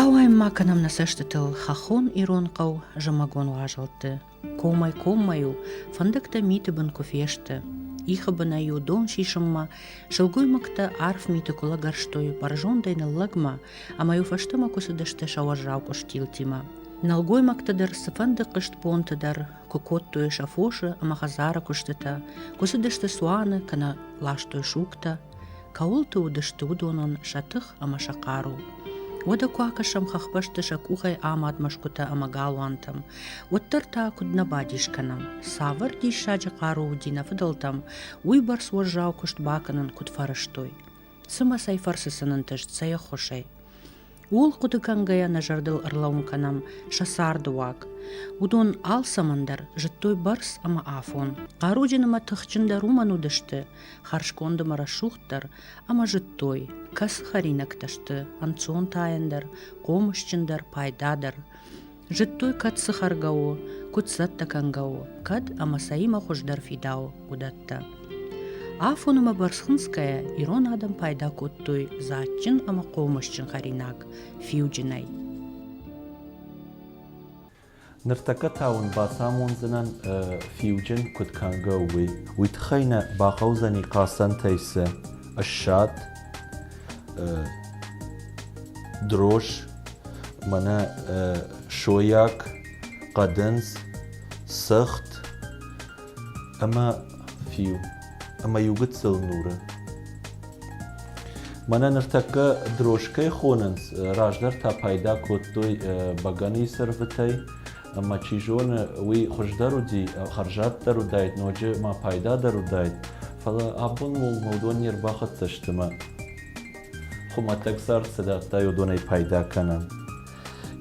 Ауайын ма кӕнӕм нӕ цӕстытыл хӕххон ирон хъӕу зымӕгон уазалты. Комӕй-коммӕ-иу фӕндӕгтӕ миты бын куы фесты. Ихы бынӕй-иу дон сисынмӕ сылгоймӕгтӕ арф миты куы лӕгӕрстой бӕрзондӕй ныллӕгмӕ ӕмӕ-иу фӕстӕмӕ куы цыдысты сӕ уӕззау къуыстилтимӕ. Нӕлгоймӕгты дӕр цыфӕнды хъызтбонты дӕр куы кодтой сӕ фосы ӕмӕ хӕдзары куыстытӕ, куы цыдысты цуаны, кӕнӕ ластой сугтӕ. кӕуылты уыдысты, уыдонӕн сӕ тых ӕмӕ сӕ хъару. Уӕдӕ куы акӕсӕм хӕхбӕсты сӕ къухӕй амад мӕсгуытӕ ӕмӕ галуантӕм, уӕддӕр та куыд нӕ бадис кӕнӕм, цавӕр диссаджы хъару уыди нӕ фыдӕлтӕм, уыйбӕрц уӕззау куыст бакӕнын куыд фӕрӕзтой. Цымӕ цӕй фӕрцы сын ӕнтыст сӕ ӕххуысӕй? Ууыл хъуыды кӕнгӕйӕ нӕ зӕрдыл ӕрлӕууын кӕнӕм сӕ царды уаг. Уыдон алцӕмӕн дӕр зыдтой бӕрц ӕмӕ афон. Хъаруджын ӕмӕ тыхджындӕр уымӕн уыдысты, хӕрзконд ӕмӕ рӕсугъддӕр, ӕмӕ зыдтой, кӕцы хӕринӕгтӕ сты ӕнцонтаендӕр, хъомысджындӕр, пайдадӕр. Зыдтой, кӕд цы хӕргӕ у, куыд цӕттӕ кӕнгӕ у, кӕд ӕмӕ сӕимӕ хуыздӕр фидауы, уыдӕттӕ. Афонмӕ Барсынскӕйӕ ирон адӕм пайда кодтой дзаджджын ӕмӕ хъомысджын хӕринаг фиуджынӕй. Ныртӕккӕ та уын бацамондзынӕн фиуджын куыд кӕнгӕ у, уый. Уый тыххӕй нӕ бахъӕудзӕни хъацӕнтӕй цы ссад, дрож мӕнӕ сойаг хъӕдындз сӕгът ӕмӕ фиу ӕмӕ иу гыццыл нуры мӕнӕ ныртӕккӕ дрожкӕй хонынц раздӕр та пайда кодтой бӕгӕныйы сӕрвытӕй ӕмӕ чи зоны, уый хуыздӕр уыди, хӕрзаддӕр уыдаид, ноджы ма пайдадӕр уыдаид. Фӕлӕ абон уыл уыдон не рбахӕццӕ сты мӕ хуымӕтӕг цард цы дӕтта, уыдонӕй пайда кӕнӕм.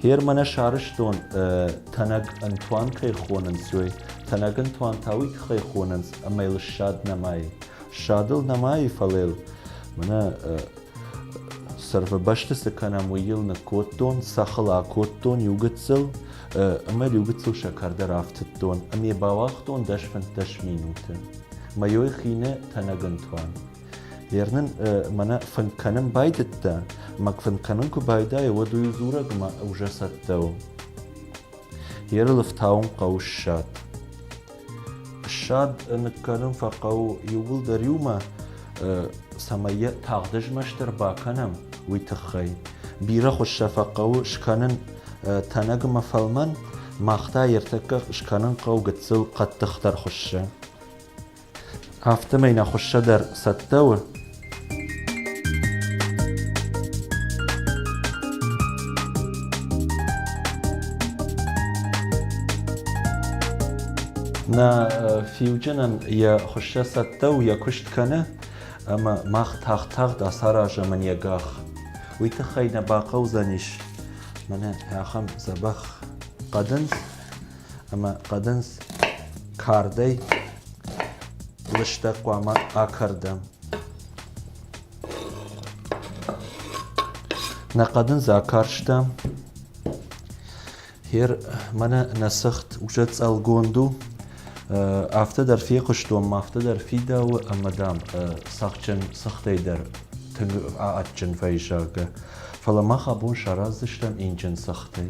Гъер мӕнӕ сарӕзтон тӕнӕг ӕнтуан кӕй хонынц, уый. Тӕнӕг ӕнтуан та уый тыххӕй хонынц, ӕмӕ йыл ссад нӕмайы. Ссадыл нӕмайы, фӕлӕ йыл мӕнӕ Сӕрфыбӕсты цы кӕнӕм, уый йыл ныккодтон, цӕхыл акодтон иу гыццыл, ӕмӕ иу гыццыл сӕкӕрдӕр афтыдтон ӕмӕ бауагътон дӕс фынддӕс минуты. Мӕйой хины тӕнӕгын туан. Ернын мӕнӕ фынг кӕнын байдыдта, мӕ фынг кӕнын куы байдайы, уӕд уый дзурӕгмӕ уже цӕттӕ у. Еры лыфтауын хъӕуы ссад. Ссад ныккӕнын фӕхъӕуы иууылдӕр иумӕ, цӕмӕй йӕ тагъд ызмӕстдӕр бакӕнӕм, уый тыххӕй. Бирӕ хуыз сӕ фӕхъӕуы скӕнын тӕнӕг ӕмӕ фӕлмӕн, мах та йӕ ӕртӕккӕ скӕнын хъӕуы гыццыл хъӕддыхдӕр хуызы. Афтӕмӕй нӕ хуыссӕ дӕр цӕттӕ у? Нӕ фиуджынӕн йӕ хуыссӕ цӕттӕ у йӕ куыст кӕны, ӕмӕ мах тагъд-тагъд ацаразӕм ын йӕ гӕх. Уый тыххӕй нӕ бахъӕудзӕнис мӕнӕ ахӕм дзӕбӕх хъӕдындз. ӕмӕ хъӕдындз кардӕй лыстӕг хъуамӕ акӕрдӕм. Нӕ хъӕдындз акарстам. Хер мӕнӕ нӕ сыгъд узӕцӕлгонд у. Афтӕ дӕр фехъуыстон, афтӕ дӕр фидауы ӕмӕ, дам, цӕхджын сыгъдӕй дӕр тынг адджын вӕййы, зӕгъгӕ. Фӕлӕ мах абон сараздзыстӕм инджын сыгъдӕй.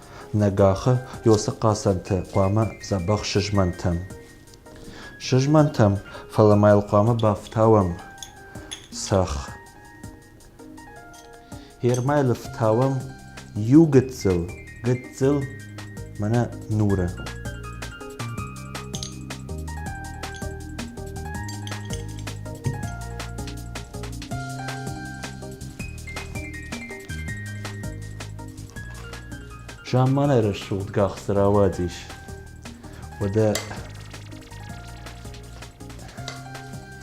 Нӕ гӕххы ёсы хъацӕнты хъуамӕ дзӕбӕх сызмӕнтӕм. Сызмӕнтӕм, фӕлӕ ма йыл хъуамӕ бафтауӕм цӕхх. Гермӕ йыл ӕфтауӕм иу гыццыл, гыццыл мӕнӕ нуры. Замманай рӕсугъд гӕхцы рауадис. Уӕдӕ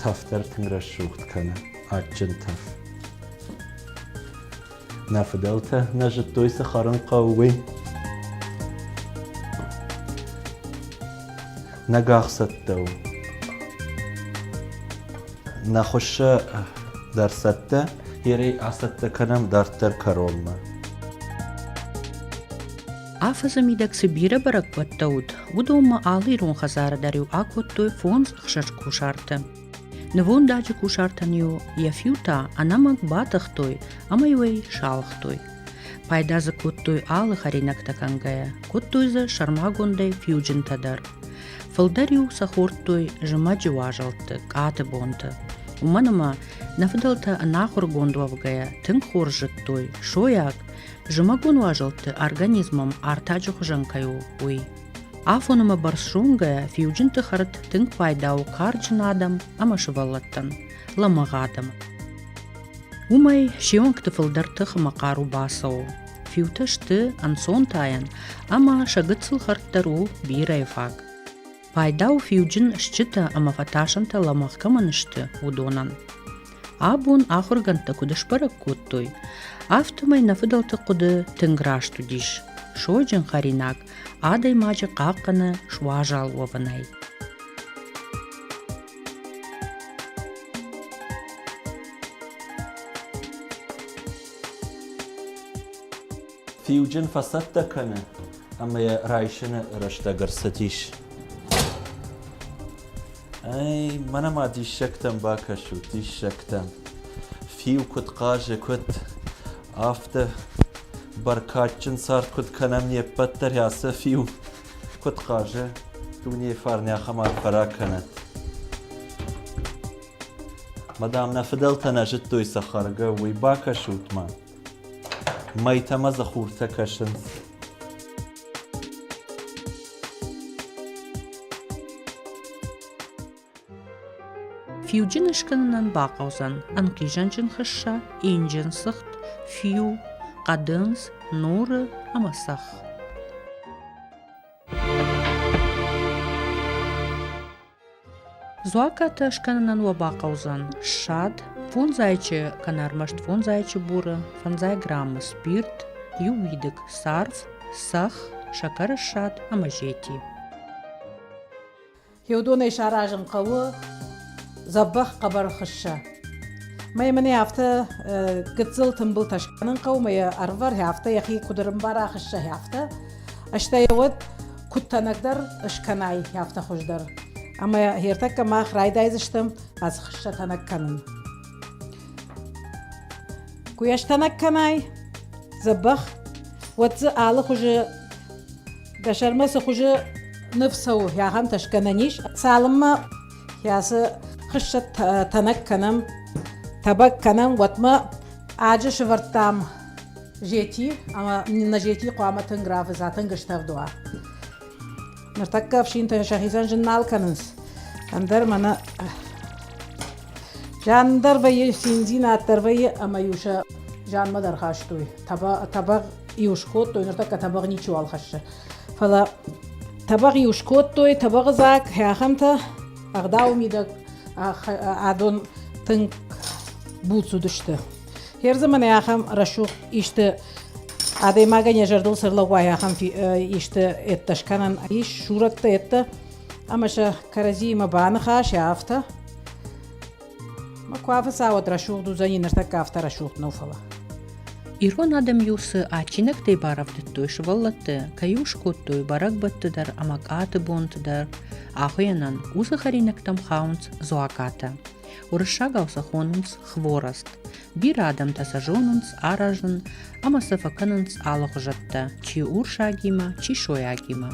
тӕф дӕр тынг рӕсугъд кӕны, адджын тӕф. Нӕ фыдӕлтӕ нӕ зыдтой, цы хӕрын хъӕуы, уый. Нӕ гӕхцӕттӕ у. Нӕ хуыссы дӕр цӕттӕ, ерӕй ацӕттӕ кӕнӕм дарддӕр кӕронмӕ. Афӕдзы мидӕг цы бирӕ бӕрӕгбӕттӕ уыд, уыдонмӕ алы ирон хӕдзары дӕр-иу акодтой фондз ӕхсӕз кусарты. Нывондаджы кусартӕн-иу йӕ фиутӕ ӕнӕмӕнг батыхтой ӕмӕ-иу ӕй салхтой. Пайда дзы кодтой алы хӕринӕгтӕ кӕнгӕйӕ, кодтой дзы сӕрмагондӕй фиуджынтӕ дӕр. Фылдӕр-иу сӕ хордтой зымӕджы уазӕлтты, къаты бонты. Уымӕн ӕмӕ нӕ фыдӕлтӕ ӕнахуыргонд уӕвгӕйӕ тынг хорз зыдтой, сойаг, зымӕгон уазӕлтты организмом артаджы хуызӕн кӕй у, уый. Афон ӕмӕ бӕрц зонгӕйӕ фиуджынты хӕрд тынг пайда у карджын адӕм ӕмӕ сывӕллӕттӕн, лӕмӕгъ адӕм. Уымӕй се онгты фылдӕр тых ӕмӕ хъару бацӕуы. фиутӕ сты ӕнцонтайӕн ӕмӕ сӕ гыццыл хӕрд дӕр у бирӕ фаг. Пайда у фиуджын стджытӕ ӕмӕ фӕтасӕнтӕ лӕмӕгъ кӕмӕн сты, уыдонӕн. Абон ахуыргӕндтӕ куыд сбӕрӕг кодтой, афтӕмӕй нӕ фыдӕлты хъуыды тынг раст уыдис. Сойджын хӕринаг адӕймаджы хъахъхъӕны суазал уӕвынӕй. Фиуджын фӕцӕттӕ кӕны ӕмӕ йӕ райсыны рӕстӕг ӕрцыдис. Ай, мӕнӕ ма диссӕгтӕм бакӕсут, диссӕгтӕм. Фиу куыд хъазы, куыд афтӕ бӕркадджын цард куыд кӕнӕм не ппӕт дӕр ацы фиу куыд хъазы, дунейы фарн ахӕм арф фӕракӕнӕд. Мадам, нӕ фыдӕлтӕ нӕ зыдтой сӕ хӕргӕ, уый бакӕсут мӕ. Мӕйтӕмӕ дзы хуртӕ кӕсынц. Фиуджын ыскӕнынӕн бахъӕудзӕн ӕнхъизӕнджын хыссӕ, инджын сыгъд, фиу, хъӕдындз, нуры ӕмӕ цӕхх. дзуаппӕтӕ скӕнынӕн уӕ бахъӕудзӕн ссад фондз зайчы кӕнӕ ӕрмӕст фондз зайчы буры фӕндзай граммы спирт иу уидыг сарв сӕх сӕкӕры ссад ӕмӕ зети еудонӕй саразын хъӕуы дзӕбӕх хъӕбӕр хыссӕ мӕй мын афтӕ гыццыл тымбылтӕ скӕнын хъӕуы мӕ йӕ ӕрвӕр афтӕ йӕхи куыд ӕрымбара хыссӕ афтӕ стӕй уӕд куыд тӕнӕгдӕр скӕнай, афтӕ хуыздӕр. Ӕмӕ хиртӕккӕ мах райдайдзыстӕм ацы хыссӕ тӕнӕг кӕнын. Куы йӕ стӕнӕг кӕнай, дзӕбӕх, уӕд дзы алы хуызы дӕ сӕрмӕ цы хуызы ныв цӕуы, ахӕмтӕ скӕнӕн ис. Цалынмӕ ацы хыссӕ тӕнӕг кӕнӕм, тӕбӕг кӕнӕм, уӕдмӕ аджы сывӕрдтам зети ӕма нӕ зети хъуамӕ тынг равза, тынг стӕвд уа. Ныртӕккӕ ӕфсинтӕ сӕхицӕн зын нал кӕнынц. Ӕндӕр мӕнӕ зиан дӕр вӕййы, циндзинад дӕр вӕййы ӕмӕ-иу сӕ зианмӕ дӕр хастой. Табӕ, табӕг иу скодтой, ныртӕккӕ табӕг ничиуал хӕссы. Фӕлӕ табӕг иу скодтой, табӕгы дзаг, хӕхӕмтӕ, ӕгъдауы мидӕг адон тынг буц уыдысты. Хер заманы ахӕм рӕсугъд исты адӕймагӕн йӕ зӕрдыл цы рлӕууай, ахӕм исты ӕдтӕ скӕнӕн ис, сурӕттӕ ӕдтӕ, ӕмӕ сӕ кӕрӕдзиимӕ баныхас, афтӕ. Мӕ куы афыцауӕд рӕсугъд уыдзӕни, ныртӕккӕ афтӕ рӕсугъд нӕу, фӕлӕ. Ирон адӕм-иу цы адджинӕгтӕй барӕвдыдтой сывӕллӕтты, кӕй у скодтой бӕрӕгбӕтты дӕр ӕмӕ къаты бонты дӕр, ахуыйӕнӕн уыцы хӕринӕгтӕм хауынц дзуакатӕ. Уырыссагау сӕ хонынц хворост. Бирӕ адӕмтӕ сӕ зонынц, аразын ӕмӕ сӕ фӕкӕнынц алыгъуызӕттӕ, чи урсагимӕ, чи сойагимӕ.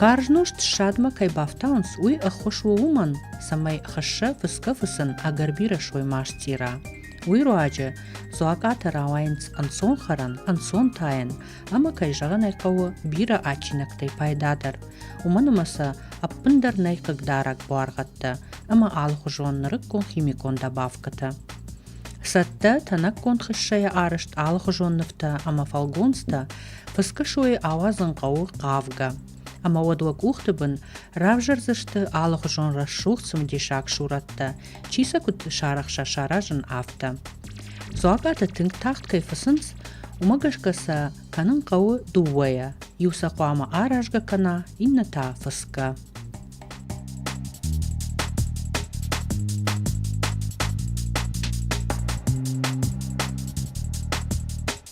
Карз нозт ссадмӕ кӕй бафтауынц, уый ӕххуыс у уымӕн, цӕмӕй хӕсса фыцгӕ-фыцын ӕгӕр бирӕ соймастира. Уый руаджы дзуакъатӕ рауайынц ӕнцонхӕрӕн, ӕнцон тайӕн Ӕмӕ, кӕй зӕгъын ӕй хъӕуы, бирӕ адджинӕгтӕй пайдадӕр, уымӕн ӕмӕ сӕ ӕппындӕр нӕй хъыгдарӕг буаргъӕдтӕ ӕмӕ алыхуызон нырыккон химикон добавкӕтӕ. Цӕттӕ, тӕнӕггонд хыссӕйӕ арызт алыхуызон нывтӕ ӕмӕ фӕлгонцтӕ фыцгӕ сойы ауадзын хъӕуы хъавгӕ. ӕмӕ уӕд уӕ къухты бын равзӕрдзысты алыхуызон рӕсугъд цымыдисаг сурӕттӕ, чи сӕ куыд сарӕхса, саразын, афтӕ. Дзуаппӕтӕ тынг тагъд кӕй фӕцынц, уымӕ гӕсгӕ сӕ кӕнын хъӕуы дыууӕйӕ. Иу сӕ хъуамӕ аразгӕ кӕна, иннӕ та фысгӕ.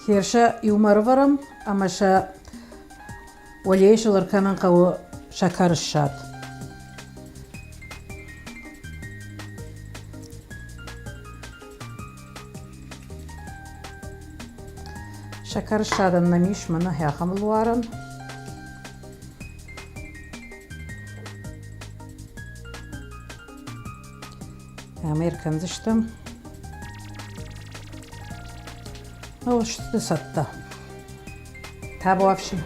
Херсӕ иумӕ ӕрывӕрӕм ӕмӕ сӕ уӕлейы сыл ӕркӕнын хъӕуы сӕкӕрыссад. Сӕкӕрыссадӕн нӕм ис мӕнӕ ахӕм луарӕн. Ӕмӕ ӕркӕндзыстӕм. О, сты сӕттӕ. Табуафси.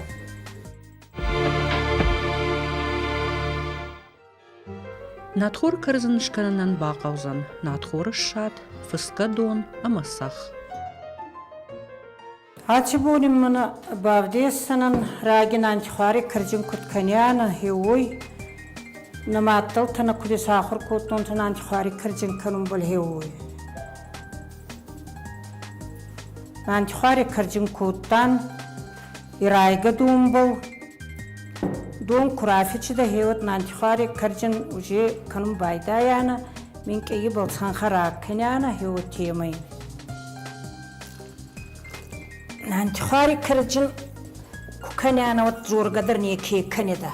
Натхор кӕрдзын скӕнынӕн бахъӕудзӕн натхоры ссад, фысгӕ дон ӕмӕ сах. Аци бонин мин бавдесдзӕнӕн, раги нантихуари кирдин куд кӕнианӕ, е уой, нӕ мадтӕлтӕ нӕ куд исахур кодтонцӕ нантихуари кирдин кӕнунбӕл, е уой. Нантихуари кирдин кодтан и райгӕ донбӕл. Дон ку рафичидӕ, еуӕд нантихуари кирдин уже кӕнун байдайанӕ, минкъийибӕл цанхӕ ракӕнианӕ, еуӕд темӕ ин. Антихуари кӕрдзын куы кӕнӕ, уӕд дзоргӕ дӕр неке кӕнеда.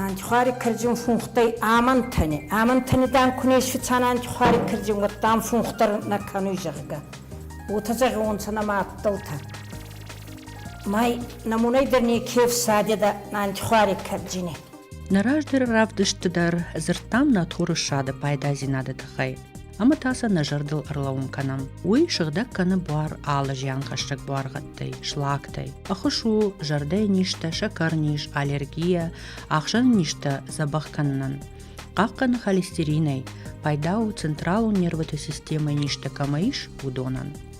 Антихуари кӕрдзин фунхтӕй амантӕни. Амантӕни дан куне фицан антихуари кӕрдзин, уӕд дан фунх дӕр нӕ кӕнуй, зӕгъгӕ. Уотӕ зӕгъонцӕ нӕма адтӕлтӕ. Май намунӕй дӕр неке фсадеда антихуари кӕрдзини. Нӕ раздӕры равдыстты дӕр дзырдтам нӕ турысады пайдадзинады тыххӕй ӕмӕ та сӕ нӕ зӕрдыл ӕрлӕуын кӕнӕм. Уый сыгъдӕг кӕны буар алы зианхӕссӕг буаргъӕдтӕй, слактӕй. Ӕххуыс у зӕрдӕйы низтӕ, сӕкӕрниз, аллергия, ахсӕн низтӕ дзӕбӕх кӕнынӕн. Хъахъхъӕны холестеринӕй, пайда у централон нервотой системӕйы низтӕ кӕмӕ ис, уыдонӕн.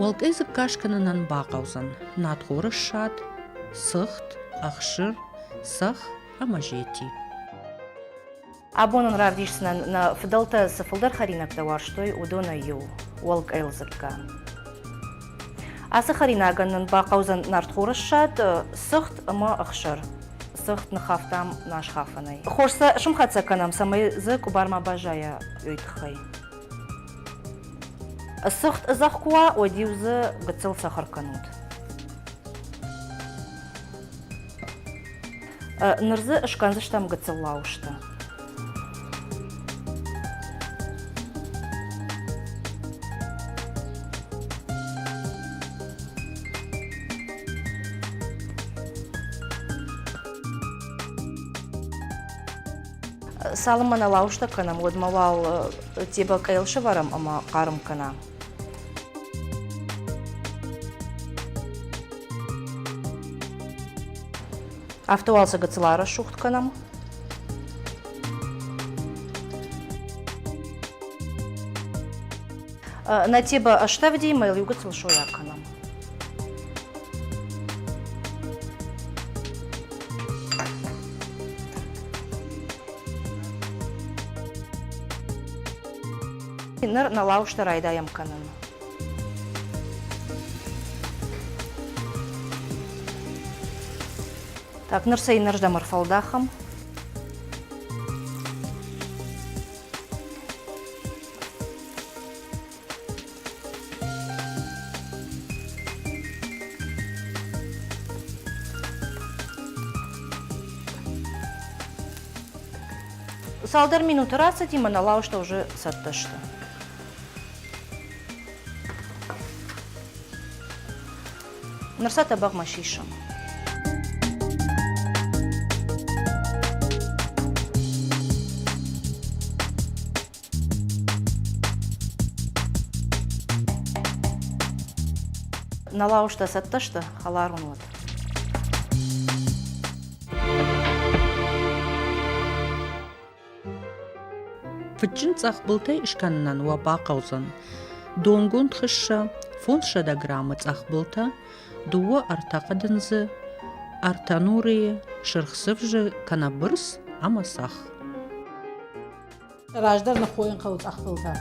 уӕлкъӕй дзыкка скӕнынӕн бахъӕудзӕн надхоры ссад сыхт ӕхсыр цӕх ӕмӕ зети абон ын равдисдзынӕн нӕ фыдӕлтӕ цы фылдӕр хӕринӕгтӕ уарзтой уыдонӕй иу уӕлкъӕйыл дзыкка ацы хӕринагӕн нын бахъӕудзӕн нартхоры ссад сыхт ӕмӕ ӕхсыр сыхт ныхафтам нӕ схафӕнӕй хорз сӕ сымхӕцӕг кӕнӕм цӕмӕй дзы къуыбар ма баззайа уый тыххӕй Зӕхх куы уа, уӕд-иу дзы гыццыл сахар кӕнут. Ныр дзы скӕндзыстӕм гыццыл лауысты. Цалынмӕ нӕ лауызтӕ кӕнӕм, уӕдмӕ уал тебӕкӕйыл сӕвӕрӕм ӕмӕ хъарм кӕна. Автовалцы гыцыла рӕсугъд кӕнӕм. Нӕ тебӕ ӕстӕвди мӕ иу гыцыл сойа кӕнӕм. Ныр нӕ лауштӕ райдайӕм кӕнын. Так, ныр сӕйнӕрзӕм ӕрфӕлдахӕм. Цалдӕр минуты рацыди, мӕнӕ лауызтӕ уже цӕттӕ сты. Ныр сӕ тӕбӕгъмӕ сисым. На лауштӕ цӕттӕ сты? Хӕларон уод. Фыдджын цъӕхбылтӕй скӕнынӕн уӕ бахъӕудзӕн донгонд хыссӕ, фондзсӕдӕ граммы цъӕхбылтӕ, дыууӕ ӕртӕхъӕдындзы, ӕртӕ нурыйы, сырх сывзы кӕнӕ бырс ӕмӕ сах. раздӕр ныххойын хъӕуы къӕхтылтӕ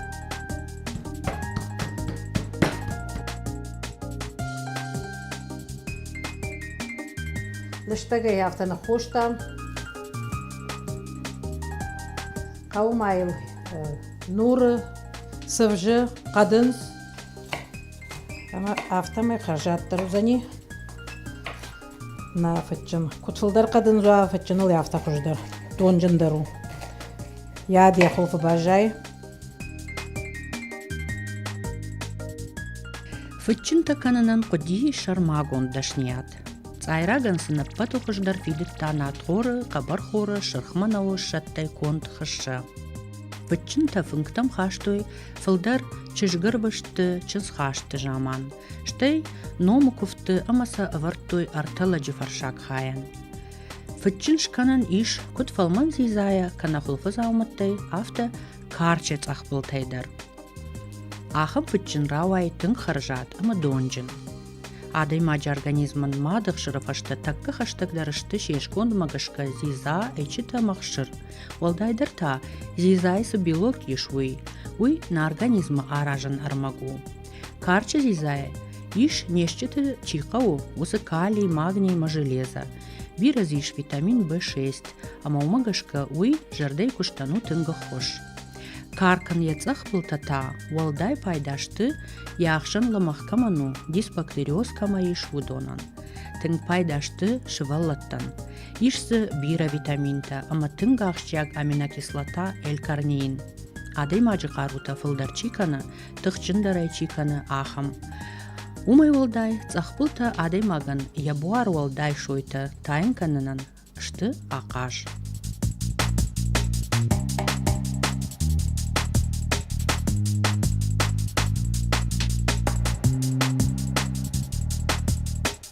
лыстӕгӕй афтӕ ныххостам хъӕуы ма йыл нуры сывзы хъӕдын ӕмӕ афтӕмӕй хӕрзаддӕр уыдзӕни Мӕ фыдджын. Куыд фылдӕр хъӕд ын зуа, фыдджыныл афтӕ хуыздӕр, донджындӕр у. Йӕ де хуылфы баззайы. Фыдджынтӕ кӕнынӕн хъуыди сӕрмагонд дӕсныйад. Цъайрагӕн сын ӕппӕты хуыздӕр фидыдта надхоры, хъӕбӕрхоры, сырхмӕ науы ссӕдтӕй конд хыссӕ. Фыдджынтӕ фынгтӕм хастой фылдӕр чызгырвӕзты чызгхасты заман. стӕй номы куывдты ӕмӕ сӕ ӕвӕрдтой ӕртӕ лӕджы фӕрсаг хайӕн. Фыдджын скӕнӕн ис куыд фӕлмӕн дзидзайӕ, кӕнӕ хуылфы дзаумӕттӕй, афтӕ карчы цъӕхбылтӕй дӕр. Ахӕм фыдджын рауайы тынг хӕрзад ӕмӕ донджын. Адӕймаджы организмӕн мады хсыры фӕстӕ тӕккӕ хӕстӕгдӕр сты се скондмӕ гӕсгӕ дзидза, ӕйчытӕ ӕмӕ хсыр. Уӕлдайдӕр та, дзидзайы цы белок ис, уый. Уый на организмы аразӕн ӕрмӕг у. Карчы дзидзайӕ ис не стджыты чи хъӕуы, уыцы калий, магниймӕ железо. Бирӕ дзы ис витамин В6, ӕмӕ уымӕ гӕсгӕ уый зӕрдӕйы куыстӕн у тынг ххуыс. Каркӕн йӕ цъӕхбылтӕ та уӕлдай пайда сты, йӕ ӕхсӕн лымӕх кӕмӕн у, дисбактериоз кӕмӕ ис, уыдонӕн. Тынг пайда сты сывӕллӕттӕн. Ис дзы бирӕ витаминтӕ ӕмӕ тынг ахсджиаг аминокислота L-карнеин. Адӕймаджы хъарутӕ фылдӕр чи кӕны, тыхджындӕрӕй чи кӕны, ахӕм. Уымӕй уӕлдай цъӕхпултӕ адӕймагӕн йӕ буар уӕлдай сойтӕ тайын кӕнынӕн сты ахъаз.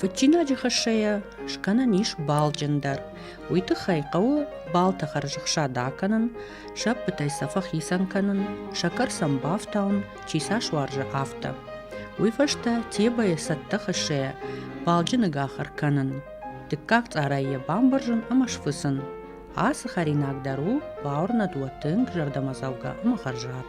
Фыдджинаджы хӕссӕйӕ скӕнӕн ис балджындӕр. Уый тыххӕй хъӕуы балты хӕрзӕхсад акӕнын, сӕппытӕй сӕ фӕхицӕн кӕнын, сӕ кӕр сӕм бафтауын, чи сӕ суарзы, афтӕ. Уый фӕстӕ тебӕйы цӕттӕ хӕссӕйӕ балджыны гахыр кӕнын. Дыккаг цъарӕй йӕ бамбӕрзын ӕмӕ сфыцын. Ацы хӕринаг дӕр у бауырнӕд уӕ тынг зӕрдӕмӕдзӕугӕ ӕмӕ хӕрзад.